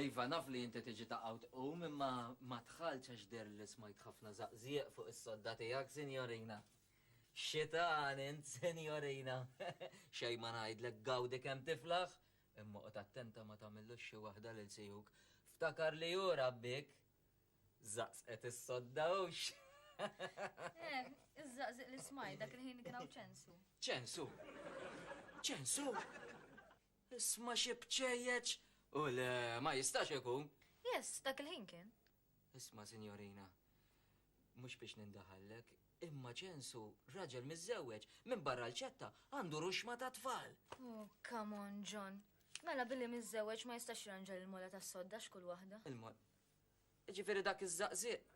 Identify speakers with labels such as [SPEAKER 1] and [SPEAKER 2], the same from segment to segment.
[SPEAKER 1] Iva, naf li inti tiġi taqaw tqum imma ma tħallx għax der li smajt ħafna zaqzieq fuq is-sodda tiegħek, sinjorina. Xitan int, sinjorina. Xejn ma ngħidlek gawdi kemm tiflaħ, Imma oqgħod attenta ma tagħmillux xi waħda lil sihuk. Ftakar li hu rabbik! Żaqżqet is-sodda hux. Eh, iżżaqżiq
[SPEAKER 2] l-ismajl dak il-ħin kien hawn ċensu.
[SPEAKER 1] Ċensu! Ċensu! Isma' xi bċejjeċ! U le, ma jistax ikun! Yes, dak il-ħin
[SPEAKER 2] kien. Isma'
[SPEAKER 1] sinjorina, Mhux biex nindaħallek, imma ċensu, raġel miżżewweġ, minbarra l-ċetta, għandu ruxma ta' tfal! Oh, come
[SPEAKER 2] on, John. Mela billi miżżewweġ ma jistax jirranġa l-mola tas-sodda x'kull waħda? Il-mol.
[SPEAKER 1] Jiġifieri dak iż-żaqżieq!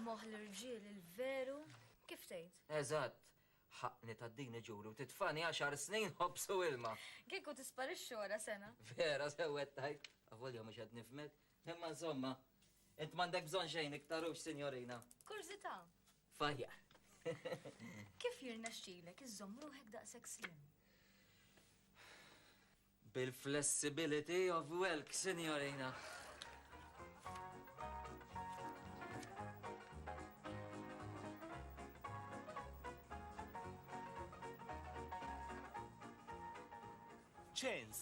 [SPEAKER 1] Moħħ
[SPEAKER 2] l-irġiel il-veru, kif tgħid? Eżatt.
[SPEAKER 1] Ħaqqni tgħaddini ġuri u titfagħni għaxar snin ħobż u ilma! Kieku tisparixxi
[SPEAKER 2] wara sena! Vera, sewwet
[SPEAKER 1] tgħid, avolja mhux qed nifhmek. Imma insomma, int m'għandek bżonn xejn iktar hux, sinjorina. Kurzità.
[SPEAKER 2] Fajja. Kif jirnexxilek iżżomm ruħek daqshekk slim?
[SPEAKER 1] Bil-flessibility of welk, sinjorina.
[SPEAKER 3] Ċens,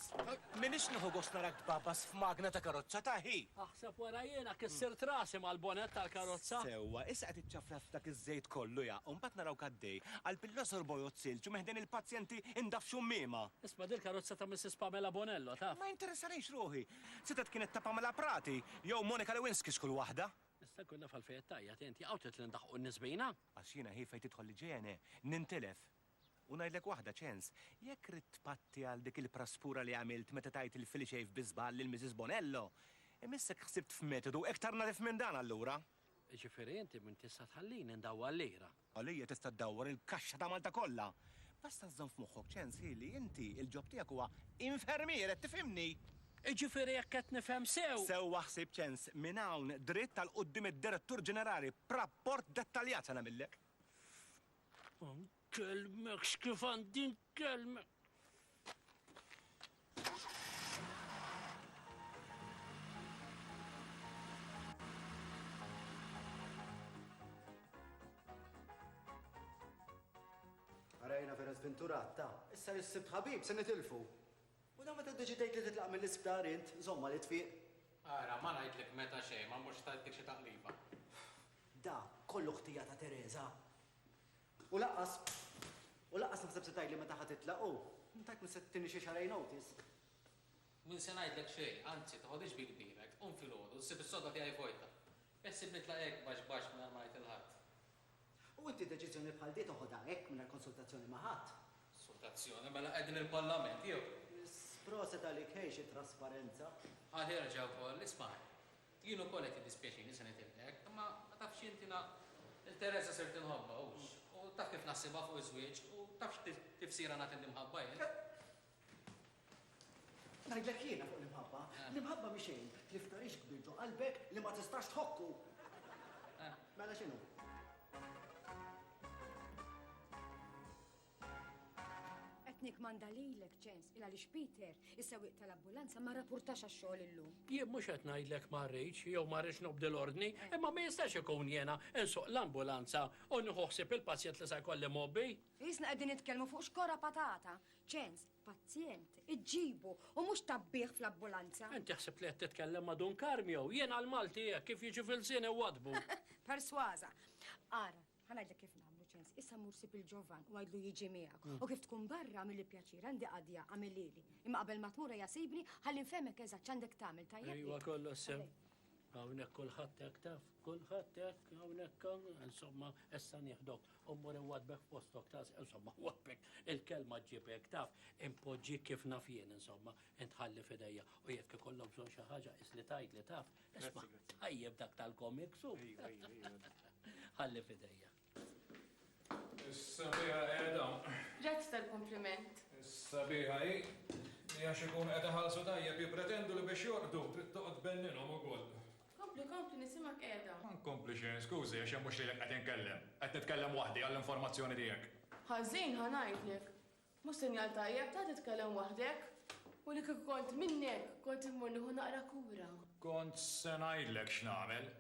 [SPEAKER 3] m'iniex nieħu gost narak tbagħbas f'magna ta' karozza ta' ħi! Aħseb wara jiena
[SPEAKER 4] kissirt rasi mal-bonett tal-karozza! Sewwa, issa qed iċċafraf
[SPEAKER 3] f'dak iż-żejt kollu ja! U mbagħad narawk għaddej, qalb il-Għosor bojod silġ u minn ħdejn il-pazjenti indaf xummiema! Isma' din il-karozza ta'
[SPEAKER 4] Missis Pamela Bonello, taf? Ma jinteressanix ruħi!
[SPEAKER 3] Setgħet kienet ta' Pamela Prati jew Monica Lewinsky x'kull waħda! Nista' nkun naf għalfejn
[SPEAKER 4] qed tgħajjat inti? Hawn trid li ndaħħqu n-nies bina? Għax jiena ħief fejn
[SPEAKER 3] tidħol l-IJNE, nintilef! U ngħidlek waħda, Ċens, jekk ridt tpatti għal dik il-praspura li għamilt meta tajt il-filiċejf bi żball lil Misis Bonello, imissek ħsibt f'metodu iktar nadif minn dan allura! Jiġifieri inti
[SPEAKER 4] m'int tista' tħallini ndawwar lira? Għalija tista' ddawwar
[SPEAKER 3] il-kaxxa ta' Malta kollha! Basta żżomm f'moħħok, Ċens, hi li inti il-ġob tiegħek huwa infermier, qed tifhimni? Jiġifieri jekk
[SPEAKER 4] qed nifhem sew. Sewwa ħsib, Ċens,
[SPEAKER 3] minn hawn dritt għal quddiem id-Direttur Ġenerali b'rapport dettaljat se nagħmillek! Nkellmek
[SPEAKER 4] x'kif għandi nkellmek.
[SPEAKER 5] Arajna vera zventurat ta' issa li s-sibt ħabib se nitilfu. U da meta deċidejt li titlaq mill-isptar int, zomma li tfiq. Ara, ma ngħidlek
[SPEAKER 6] meta xejn ma mhux tajtnik xi taqliba. Da
[SPEAKER 5] kollu ħtija ta' Teresa. U lanqas, u lanqas naħseb se tgħidli meta ħa titlaq u, tajt min se tittini xi xahrejn notice. Min
[SPEAKER 6] se ngħidlek xejn, anzi, toħodhiex bi kbirek, qum filgħodu, ssib is-sodda tiegħi vojta. Beħsieb nitlaq hekk baxx baxx mingħajr ma ngħid lil ħadd. U inti
[SPEAKER 5] deċiżjoni bħal di toħodha hekk mingħajr konsultazzjoni ma' ħadd? Konsultazzjoni? Mela
[SPEAKER 6] qegħdin il-Parlament jew? Proset għalik,
[SPEAKER 5] ħej xi trasparenza. Aħjar ġewwa,
[SPEAKER 6] isma' ħaj. Jien ukoll qed jiddispjaċini se nitilqek, imma ma tafx int jiena lil Teresa sirt inħobbha, hux? U taf kif naħsibha fuq iż-żwieġ, u taf x'tifsira nagħti l-imħabba jien?
[SPEAKER 5] Ngħidlek jiena fuq l-imħabba, l-imħabba mhi xejn li f'tarix kbir ġo qalbek li ma tistax tħokku! Mela x'inhu?
[SPEAKER 7] Qed nikkmanda lilek, Ċens, il għaliex Peter, is-sewwieq tal-abbulanza, ma rrapurtax għax-xogħol illum. Jien mhux qed ngħidlek
[SPEAKER 4] ma rridx jew ma rridx nobdi l-ordni, eh. imma ma jistax ikun jiena nsuq l-ambulanza u nieħu ħsieb il-pazjent li se jkolli mgħobbi. Isna qegħdin nitkellmu
[SPEAKER 7] fuq xkora patata. Ċens, pazjent, iġġibu u mhux tabbih fl-abbulanza. Inti ħsibt li qed titkellem
[SPEAKER 4] ma' Dun Karmio, jiena l-Malti hekk kif jiġi fil-żien iwadbu. Persważa.
[SPEAKER 7] Ara, Ħa ngħidlek kif nagħmlu ċens. Issa mur sib il-ġovan u għidlu jiġi miegħek. Mm. U kif tkun barra għamilli pjaċir, għandi qadja għamilili. Imma qabel ma tmur hija sejbni ħalli nfehmek eżatt x'għandek tagħmel tajjeb. Ejwa kollox sew.
[SPEAKER 4] Hawnhekk kulħadd hekk taf, kulħadd hekk hawnhekk insomma issa nieħdok u mmur iwadbek postok tas insomma wadbek il-kelma ġibek taf impoġġi kif naf jien insomma intħalli fidejja u jekk ikollok bżonn xi ħaġa isli tgħid li taf Isma, tajjeb dak tal-komiks u. Ħalli fidejja. Is-sabiħa
[SPEAKER 8] qiegħda. Grazzi
[SPEAKER 9] tal-kumpliment. Is-sabiħa hi
[SPEAKER 8] li għax ikun qed iħallsu tajjeb jippretendu li biex jorqdu trid toqgħod benninhom ukoll. Kompli, kompli,
[SPEAKER 9] nisimgħek qiegħda. Ma nkompli xejn,
[SPEAKER 8] skużi għax hemm mhux lilek qed inkellem. Qed nitkellem waħdi għall-informazzjoni tiegħek.
[SPEAKER 9] Ħażin, ħa
[SPEAKER 8] ngħidlek.
[SPEAKER 9] Mhux sinjal tajjeb, ta' titkellem waħdek? U li kieku kont minnek, kont immur nieħu naqra kura. Kont se
[SPEAKER 8] ngħidlek x'nagħmel.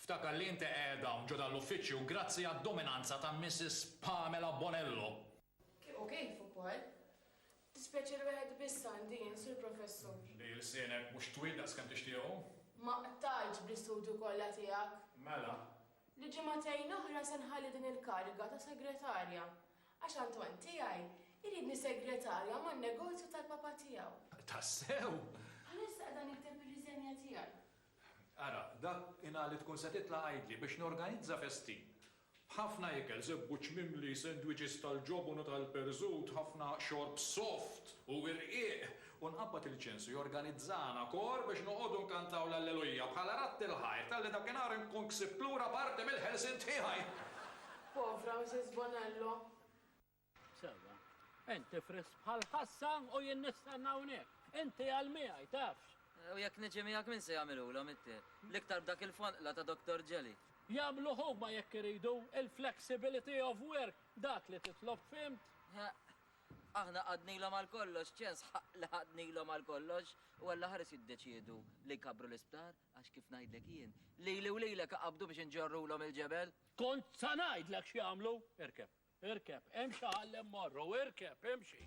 [SPEAKER 8] Ftakar li inti qegħed hawn ġo dan l-uffiċċju grazzi għad-dominanza ta' Missis Pamela Bonello. Kif u kif
[SPEAKER 9] ukoll. Dispjaċir wieħed biss għandi jien, Sur Professur. Li lsienek
[SPEAKER 8] mhux twil daqskemm tixtiequ. Ma qtajtx
[SPEAKER 9] bl-istudju kollha tiegħek. Mela?
[SPEAKER 8] Li ġimagħtejn
[SPEAKER 9] oħra se nħalli din il-kariga ta' Segretarja. Għax Anton tiegħi jridni segretarja man-negozju tal-papà tiegħu. Tassew? Bħalissa
[SPEAKER 8] qiegħda
[SPEAKER 9] nikteb ir-riżenja tiegħi. Ara,
[SPEAKER 8] dak inha li tkun se titla' għidli biex norganizza festin. B'ħafna ikel, żebbuġ mimli, sendwiċis tal-ġobon u tal-perżut, ħafna xorb soft u irqiq, u nqabbad il-ċensu jorganizzana kor biex noqogħdu nkantaw l-Allelujja bħala radd il-ħajr talli dakinhar inkun ksibt lura parti mill-ħelsien tiegħi.
[SPEAKER 9] Povra
[SPEAKER 4] Mrs. Bonello. Sewwa. Inti frisk bħal ħassa u jien nistenna hawnhekk. Inti għal miegħi, tafx. U jekk niġi miegħek
[SPEAKER 1] min se jagħmilulhom it-te? L-iktar b'dak il-fonqla ta' Doktor Ġeli. Jagħmluh huma
[SPEAKER 4] jekk iridu, il-flexibility of work, dak li titlob, fhimt? Heq.
[SPEAKER 1] Aħna qgħadnilhom għal kollox, x'ċens ħa li qgħadnilhom għal kollox u Alla ħares jiddeċiedu li jkabbru l-isptar għax kif ngħidlek jien, lili u lilek iqabbdu biex inġorrulhom il-ġebel. Kont sa
[SPEAKER 4] ngħidlek x'jagħmlu! Irkeb, irkeb, hemm xi ħall hemm morru, irkeb, imxi!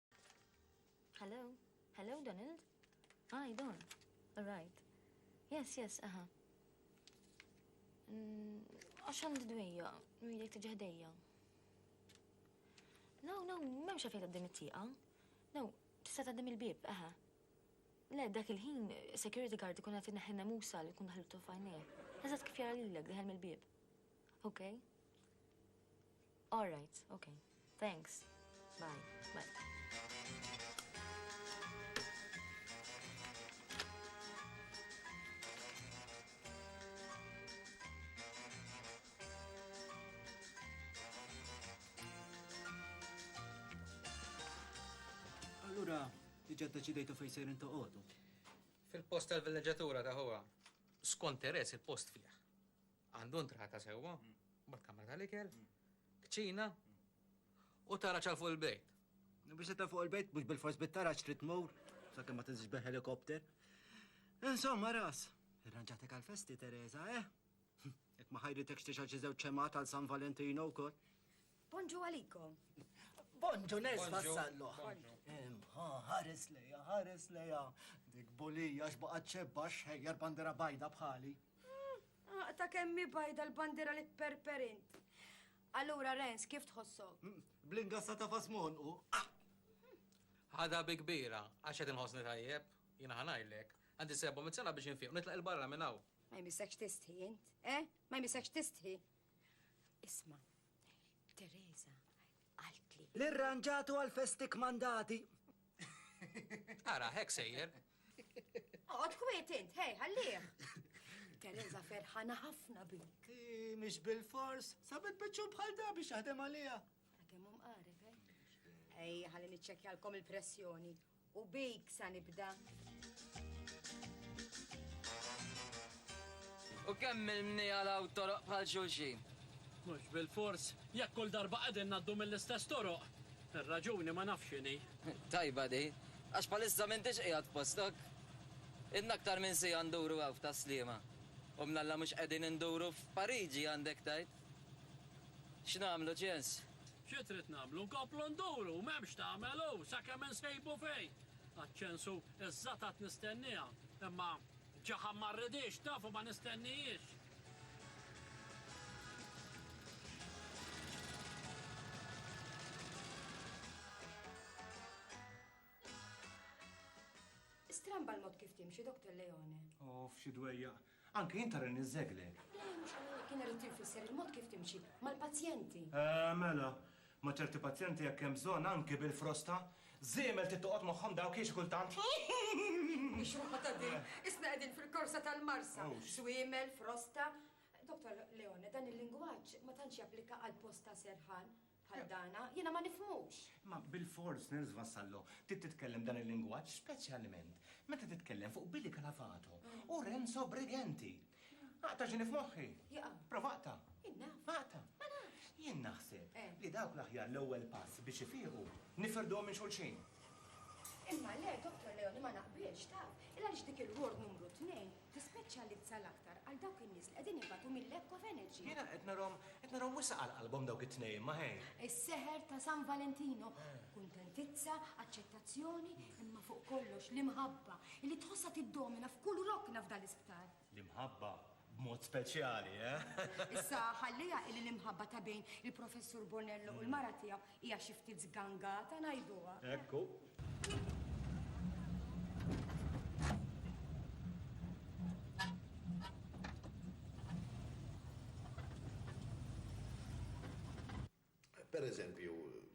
[SPEAKER 2] Hello? Hello, Donald? Ah, I don't. All right. Yes, yes, aha. Mm, għax għandi dwejja, nwilek tiġi ħdejja. No, no, memx għafejt għaddim it-tieqa. No, tista' għaddim il-bib, aha. Le, dak il-ħin, security guard ikun għati neħħina musa li kun daħlu tufajni. Eżat kif jara l-lek diħel mill-bib. Okay. All right, okay. Thanks. Bye. Bye.
[SPEAKER 5] Allura, diġa deċidejtu fej sejrin toqodu. Fil-post
[SPEAKER 6] tal-villeġatura ta' huwa. Skont Teres il-post fih. Għandu entrata sewwa, mbagħad kamra tal-ikel, kċina u taraġ għal fuq il-bejt. Biex titla' fuq
[SPEAKER 5] il-bejt mhux bilfors bit-taraġ trid tmur sakemm ma tinżilx bil-ħelikopter. Insomma, ras, irranġatek għall-festi, Teresa, eh? Jekk ma ħajritekx tixgħel xi żewġ ċemgħat għal San Valentino wkoll. Bonġu
[SPEAKER 7] għalikom. Bonġu
[SPEAKER 5] nes vassallu. Ħares leja, ħares leja. Dik bolija xbaqa ċebba xħejjar bandera bajda bħali. Hmm,
[SPEAKER 7] ta' kemmi bajda l-bandera li perperint. Allura, Rens, kif tħossu? Hmm, Blingassa ta'
[SPEAKER 5] fasmon u. Ah!
[SPEAKER 6] Ħada bi kbira, għax qed inħossni tajjeb, jiena ħanajlek. Għandi sebbu mit biex infiq, nitlaq il-barra minn hawn. Ma jmissekx tistħi
[SPEAKER 7] int, eh? Ma jmissekx tistħi. Isma, Teresa, għaltli. L-irranġatu
[SPEAKER 5] għal-festik mandati.
[SPEAKER 6] Ara, hekk sejjer. Oqgħod
[SPEAKER 7] kwiet int, hej, ħallih. Teresa ferħana ħafna bik. Mhix bil-fors,
[SPEAKER 5] sabet biċċu bħal da biex jaħdem għalija. Kemm hum qareb,
[SPEAKER 7] eh? Ej, ħalli niċċekkjalkom il-pressjoni. U bik sa nibda.
[SPEAKER 1] U kemm il-mnija law toroq bħal xulxin? Mhux
[SPEAKER 4] bil-fors, jekk kull darba qegħdin ngħaddu mill-istess toroq. Ir-raġuni ma nafx x'inhi. Tajba di,
[SPEAKER 1] għax bħalissa m'intix qiegħed postok. Ilna aktar minn siegħa nduru hawn f'Tas-Sliema, u mnalla mhux qegħdin induru f'Pariġi għandek tgħid. X'nagħmlu, Ċens? Xi trid nagħmlu?
[SPEAKER 4] Nkomplu nduru, m'hemm x'tagħmel hu, sakemm insejbu fejn! Għaċ-ċensu żżatat nistennieha, imma ġaħam ma rridhiex, tafu ma nistennihiex!
[SPEAKER 7] Stramba l-mod kif timxi, Doctor Leone. Uff, xi dwejjaq!
[SPEAKER 3] Anke jien tara li niżżegħlek. Le, mhux hekk, kien
[SPEAKER 7] irrid infisser il-mod kif timxi mal-pazjenti. Eeh, mela.
[SPEAKER 3] Ma' ċerti pazjenti jekk hemm bżonn, anke bil-frosta, żiemel trid toqgħod magħhom dawk hi xi kultant.
[SPEAKER 7] Mhix waħda din! Isna qegħdin fil-korsa tal-marsa. Żwiemel, frosta. Dottor Leone, dan il-lingwaġġ ma tantx japplika għall-post ta' serħan. bħal dana, jiena ma nifhmux. Imma bilfors,
[SPEAKER 3] Nels Vassallo, trid titkellem b'dan il-lingwaġġ speċjalment meta titkellem fuq Billy Calavato u Renzo Briganti. Aqta' ġieni f'moħħi. Jaqa'. Prova aqta'.
[SPEAKER 7] Jien
[SPEAKER 3] naf. Aqta'.
[SPEAKER 7] Ma nafx.
[SPEAKER 3] Jien
[SPEAKER 7] naħseb Eh.
[SPEAKER 3] li dawk l-aħjar l-ewwel pass biex ifiequ nifirduhom minn xulxin. Imma
[SPEAKER 7] le, Dottor Leoni, ma naqbilx, taf. Il-għaliex dik il-ward numru tnejn Tispeċjalizza l-aktar għal dawk in-nies li qegħdin ibatu mil-lack of energy. Jiena qed narahom, qed
[SPEAKER 3] narahom wisq għal qalbhom dawk it-tnejn, ma ħejn. Is-seħer ta' San
[SPEAKER 7] Valentino. Kuntentizza, aċċettazzjoni, imma fuq kollox l-imħabba li tħossha tiddomina f'kull rokna f'dan l-isptar. L-imħabba
[SPEAKER 3] b'mod speċjali, eh? Issa
[SPEAKER 7] ħalliha illi l-imħabba ta' bejn il-Professur Bonello u l-mara tiegħu Hija xi ftit żgangata ngħiduha. Ekku.
[SPEAKER 10] Per eżempju,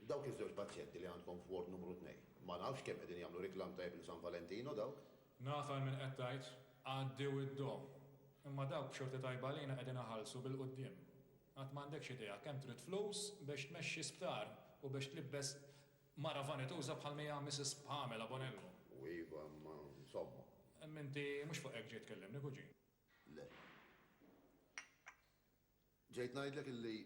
[SPEAKER 10] dawk iż-żewġ pazjenti li għandkom f'ward numru tnejn, ma nafx kemm qegħdin jagħmlu riklam tajjeb lil San Valentino dawk? Naf għal min qed
[SPEAKER 8] tgħid, għaddew id-domm. Imma dawk b'xorti tajba għalina qegħdin iħallsu bil-quddiem. Għad m'għandekx idea kemm trid flus biex tmexxi sptar u biex tlibbes mara vanituża bħal mija Missis Pamela Bonello. U iva, imma
[SPEAKER 10] insomma. Imma inti mhux
[SPEAKER 8] fuq hekk ġejt tkellimni, kuġin. Le.
[SPEAKER 10] Ġejt ngħidlek illi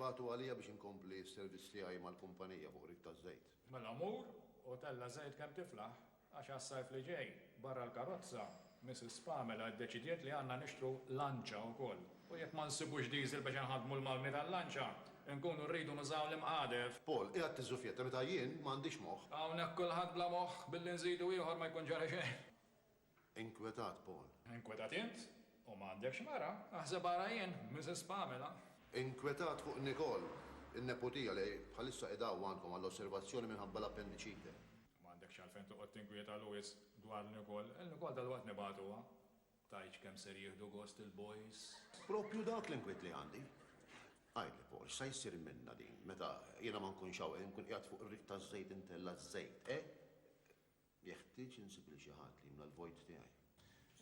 [SPEAKER 10] bagħtu għalija biex inkompli s-servizz tiegħi mal-kumpanija fuq rig taż-żejt. Mela mur
[SPEAKER 8] u tella' żejt kemm tiflaħ. Għax għas-sajf li ġej, barra l-karozza, Missis Pamela ddeċidiet li għandna nixtru lanċa wkoll. U jekk ma nsibux diżil biex inħaddmu l-magni tal-lanċa, inkunu rridu nużaw l-imqadef. Paul, qiegħed tiżżufjetta
[SPEAKER 10] meta jien ma għandix moħħ. Hawnhekk kulħadd bla
[SPEAKER 8] moħħ, billi nżidu ieħor ma jkun ġara xejn. Inkwetat
[SPEAKER 10] Paul. Inkwetat int?
[SPEAKER 8] U ma għandekx mara? Aħseb ara jien, Missis Pamela. Inkwetat
[SPEAKER 10] fuq Nicole, in-neputija li bħalissa qiegħda hawn għandkom għall-osservazzjoni minħabba l-appendiċite. M'għandekx għalfejn
[SPEAKER 8] toqgħod tinkwietalu wisq dwarni wkoll. Ilni wkoll dalwaqt nibgħatuha. Tgħidx kemm ser jieħdu gost il-boys. Proprju dawk
[SPEAKER 10] l-inkwiet li għandi. Għidli, Paul, x'sa jsir minnha din, meta jiena ma nkunx hawn e nkun qiegħed fuq ir-rig taż-żejt intella ż-żejt, e? Jeħtieġ insib lil xi ħadd li jimla l-vojt tiegħi.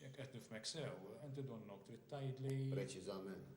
[SPEAKER 10] Jekk qed
[SPEAKER 8] nifhmek sew, inti donnok trid tgħidli. Preċiżament.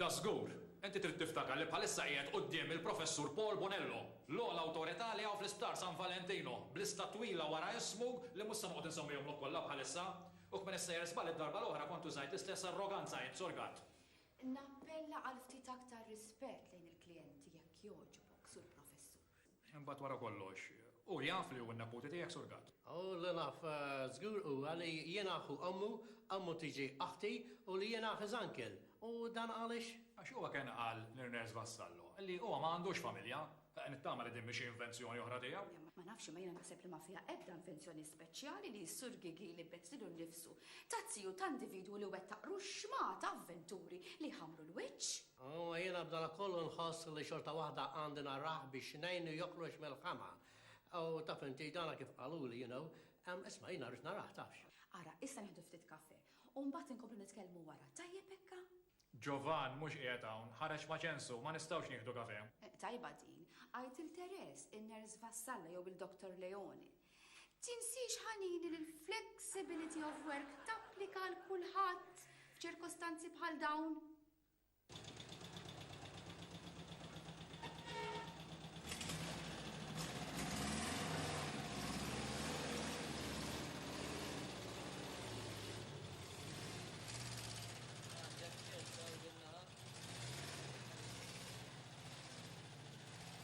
[SPEAKER 8] Dażgur, inti trid tiftakar li bħalissa qiegħed quddiem il-Professur Paul Bonello, l-ogħla awtorità li hawn fl-Isptar San Valentino, b'lista twila wara ismu li mhux se noqgħod insemmihomlok kollha bħalissa. U kmini ssejjer żball id-darba l-oħra kont użajt l-istess arroganza int, Sur Gatt. Nappella
[SPEAKER 11] għal ftit aktar rispett lejn il-klijenti jekk jogħġbok, Sur Professur. Imbagħad wara
[SPEAKER 8] kollox, hu jaf li hu n-neputi tiegħek surgat? Hu li naf
[SPEAKER 12] żgur huwa li jien aħu ommu, ommu tiġi oħti u li jiena his uncle. U dan għaliex? Għax huwa kien qal
[SPEAKER 8] l-Nurse Vassallo li huwa ma għandux familja. Nittama li din mhi xi invenzjoni oħra tiegħu. Ma nafx imma jiena naħseb
[SPEAKER 11] li ma fiha ebda invenzjoni speċjali li s-Sur Gigi jlibbes lilu nnifsu ta' ziju ta' individwu li wettaq ruxxmata avventuri li jħammru l-wiċċ. Imma jiena b'danakollu
[SPEAKER 12] nħoss li xorta waħda għandi narah biex ngħinu joħroġ mill-ħama. U taf inti, dana kif qaluli, you know. Ehm, isma', jiena rrid narah, tafx. Ara, issa nieħdu
[SPEAKER 11] ftit kafè, u mbagħad inkomplu nitkellmu wara, tajjeb hekk? Giovan mhux
[SPEAKER 8] qiegħed hawn, ħareġ ma' ċensu, ma nistgħux nieħdu kafè. Tajba din.
[SPEAKER 11] Għid lil Therese, in-Nurse Vassalla jew lil Doctor Leone. Tinsiex ħanini li l-flexibility of work tapplika għal kulħadd f'ċirkostanzi bħal dawn.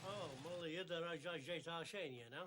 [SPEAKER 12] Oh, Molly, jidher għax ġejta xejn jena.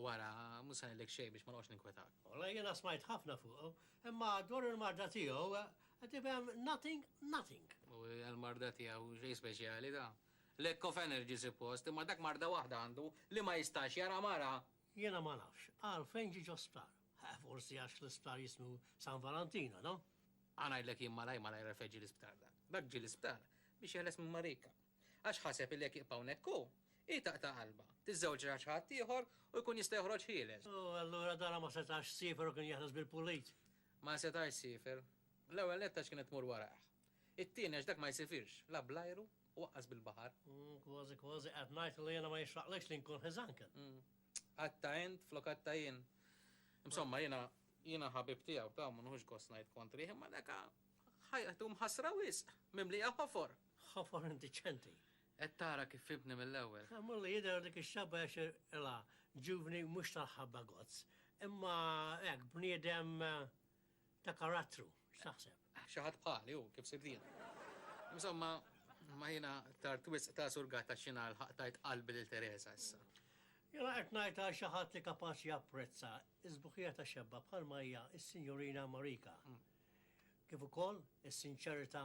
[SPEAKER 12] U ara,
[SPEAKER 6] mhux se ngħidlek xejn biex ma noqgħodx ninkwetak. Wallahi jiena smajt
[SPEAKER 12] ħafna fuqu, imma dwar il-marda tiegħu, qed tifhem nothing, nothing. U
[SPEAKER 6] l-marda tiegħu xejn speċjali da. Lack of energy sippost, imma dak marda waħda għandu li ma jistax jara mara! Jiena ma nafx
[SPEAKER 12] għalfejn ġie ġo sptar. Forsi għax l-isptar jismu San Valantina, no? Ħa ngħidlek jien
[SPEAKER 6] malajr malajr għalfejn ġie l-isptar dak. Dak ġie l-isptar biex jeħles minn Marika. Għax ħaseb li jekk jibqa' hawnhekk hu, hi taqta' qalbha, tiżżewġ ra' xi ħadd ieħor u jkun jista' joħroġ ħieles. U allura Dara ma
[SPEAKER 12] setax siefer u kien jeħles bil-pulit. Ma setax
[SPEAKER 6] siefer. L-ewwel nett għax kienet tmur warajh. It-tieni għax dak ma jsifirx la bl-ajru u aqqas bil-baħar. Kważi kważi
[SPEAKER 12] qed ngħid li jiena ma jixraqlekx li nkun his uncle. Għadtha
[SPEAKER 6] int flok għadtha jien. Insomma jiena, jiena ħabib tiegħu, taw ma nieħux gost ngħid kontrih, imma daka ħajtu mħassra wisq, mimlija ħofor. Ħofar indiċenti.
[SPEAKER 12] Qed tara kif
[SPEAKER 6] ibni mill-ewwel. Sa mulli jidher dik
[SPEAKER 12] ix-xabba għax ilha ġuvni mhux tal-ħabba gozz. Imma hekk bniedem ta' karattru, x'taħseb? Xi ħadd bħali
[SPEAKER 6] hu, kif sirt jiena. Insomma, imma jiena tard wisq ta' surgat għax jiena lħaqt tajt qalbi lil Tereża issa. Jiena qed
[SPEAKER 12] ngħidha għal xi ħadd li kapaċi japprezza s-sbuħija ta' xebba bħalma hija s-Sinjurina Marika, kif ukoll is-sinċerità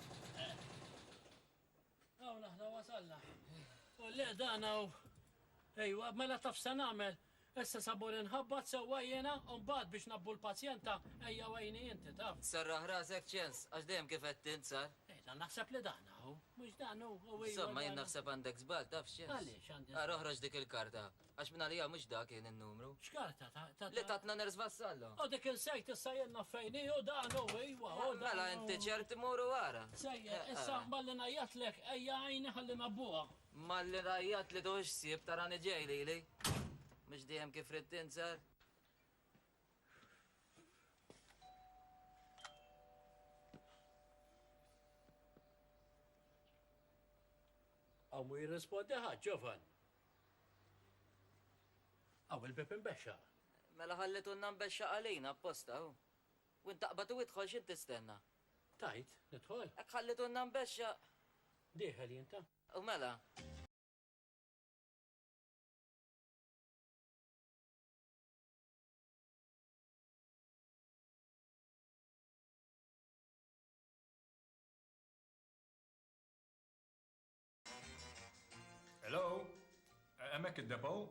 [SPEAKER 4] Hawn aħna wasalna. U le dan hawn. Ejwa, mela taf se nagħmel. Issa sabur inħabbat sewwa jiena u mbagħad biex nabbu l-pazjenta ejja wejni inti taf. Serraħ rasek ċens,
[SPEAKER 1] għax dejjem kif qed tint sar. Ejda naħseb li
[SPEAKER 4] dan hawn, mhux dan hu. Insomma jien naħseb
[SPEAKER 1] għandek żball taf ċens. Għaliex għandi. Ara oħroġ
[SPEAKER 4] dik il-karta.
[SPEAKER 1] Għax mingħalija mhux dak kien in-numru. X'karta ta' ta' Li
[SPEAKER 4] tatna Ners
[SPEAKER 1] Vassallo. U dik insejt issa
[SPEAKER 4] jenna fejn hi u dan hu iwa u dan. Mela inti ċert imur
[SPEAKER 1] u ara. Sejjer, Eh, issa eh.
[SPEAKER 4] malli ngħajjatlek ejja għajni ħalli nabbuha. Malli ngħajjat
[SPEAKER 1] li tuħux ħsieb tarani ġej lili. Mhux dejjem kif ridt int sar.
[SPEAKER 4] Aw mu jirrispondi ħadd, Ġovan. Hawn il-bieb imbexxaq. Mela ħallitulna
[SPEAKER 1] nbexxaq għalina apposta hu. Wint taqbad u idħol x'int tistenna? Tgħid,
[SPEAKER 4] nidħol? Hekk ħallitulna
[SPEAKER 1] nbexxaq. Dieħel
[SPEAKER 4] jien ta. U mela.
[SPEAKER 8] Hello? Hemmhekk id-depot?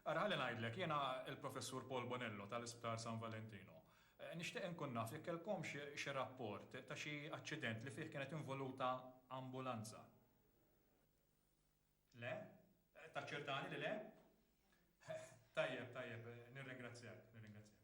[SPEAKER 8] Ara ħalli ngħidlek, jiena l-Professur Paul Bonello tal-Isptar San Valentino. Nixtieq inkun naf jekk kellkomx xi rapport ta' xi aċċident li fih kienet involuta ambulanza. Le? Taċċertani li le? Tajjeb, tajjeb, nirringrazzjak, nirringrazzjak.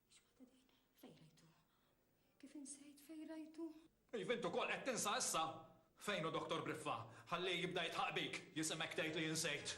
[SPEAKER 7] X'waħda din? Fejn rajtu? Kif insejt fejn rajtu? Iva int ukoll qed
[SPEAKER 8] tinsa issa? Fejn hu Dottor Briffa? Ħallih jibda jidħaq bik, jisimgħek tgħid li insejt.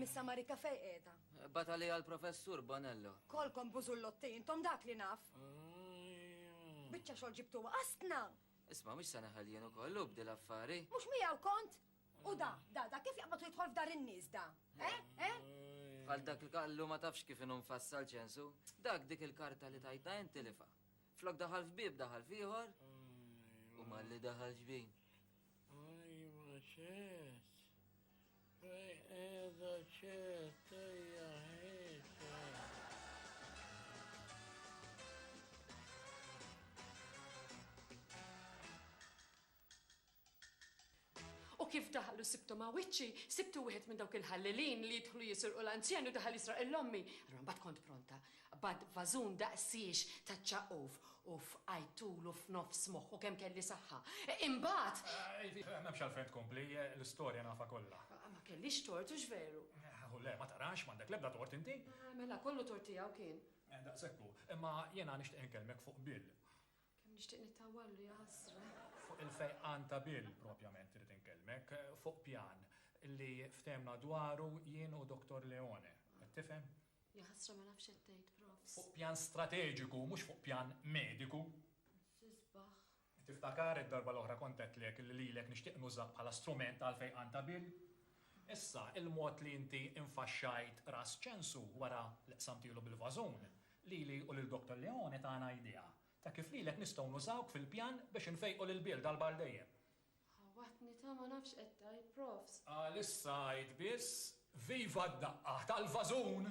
[SPEAKER 7] Missa Marika fej qiegħda. Bata li għal-professur
[SPEAKER 1] Bonello. Kolkom bużullotti,
[SPEAKER 7] intom dak li naf. Biċċa xogħol ġibtuha qasna! Isma' mhux se
[SPEAKER 1] neħel jien ukoll u bdil affari. Mhux miegħu kont?
[SPEAKER 7] U da, da, da kif jaqbad u jidħol f'dar in-nies da? Eh? Eh?
[SPEAKER 1] Bħal dak l-kallu ma tafx kif inhu mfassal ċensu. Dak dik il-karta li tajtna int tilifha. Flok daħal f'bieb daħal f'ieħor u malli daħal ġbin. Ajwa
[SPEAKER 4] ċess. Qiegħda ċert ejja ħieġ.
[SPEAKER 9] U kif daħlu sibtu ma' wiċċi, sibtu wieħed minn dawk il-ħallelin li jidħlu jisirqu l-anzjan u daħal jisraq il-ommi. Allura mbagħad kont pronta. Qbadt vażun daqsiex taċ-ċaqquf u fqajt tul u f'nofs moħħu kemm kelli saħħa. Imbagħad. M'hemmx
[SPEAKER 8] għalfejn tkompli, l-istorja nafha kollha. Ma kellix tort,
[SPEAKER 9] hux veru? Hu le, ma tarax,
[SPEAKER 8] m'għandek l-ebda tort inti. Mela, kollu tort
[SPEAKER 9] tiegħu kien. Daqshekk hu.
[SPEAKER 8] Imma jiena nixtieq inkellmek fuq Bill. Kemm nixtieq
[SPEAKER 9] nittawwallu, ja ħasra. Fuq il-fejqan
[SPEAKER 8] ta' Bill propjament irrid inkellmek, fuq pjan li ftehmna dwaru jien u Dottor Leone. Qed tifhem? Jaħasra ma
[SPEAKER 9] nafx x'qed tgħid Profs. Fuq pjan strateġiku
[SPEAKER 8] mhux fuq pjan mediku. X'isbaħ.
[SPEAKER 9] Tiftakar
[SPEAKER 8] id-darba l-oħra kont għedtlek li lilek nixtieq nużak bħala strument għall-fejqan ta' Bill? Issa, il-mod li inti infaxxajt ras Ċensu wara li qsamtielu bil-vażun, lili u lil Dottor Leone tana idea ta' kif lilek nistgħu nużawk fil-pjan biex infejqu lil Bill darba għal dejjem. Ħawatni
[SPEAKER 9] ta' ma nafx qed tgħid, Profs. Għal issa għid
[SPEAKER 8] biss, Viva d-daqqa tal-vażun!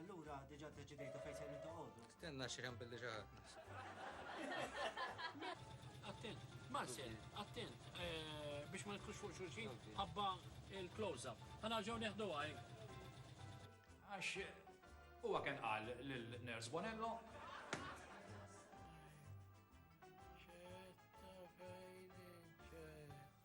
[SPEAKER 5] Allura, diġa deċidejtu fejn se nitqogħdu. Stenna x'hemm billi
[SPEAKER 6] ġaħadna.
[SPEAKER 4] Attent, Marcel, attent, eh, biex ma nitkux fuq xulxin, ħabba il-close-up. Ħana ġew neħdu għaj. Għax,
[SPEAKER 8] huwa kien qal l-Ners Bonello,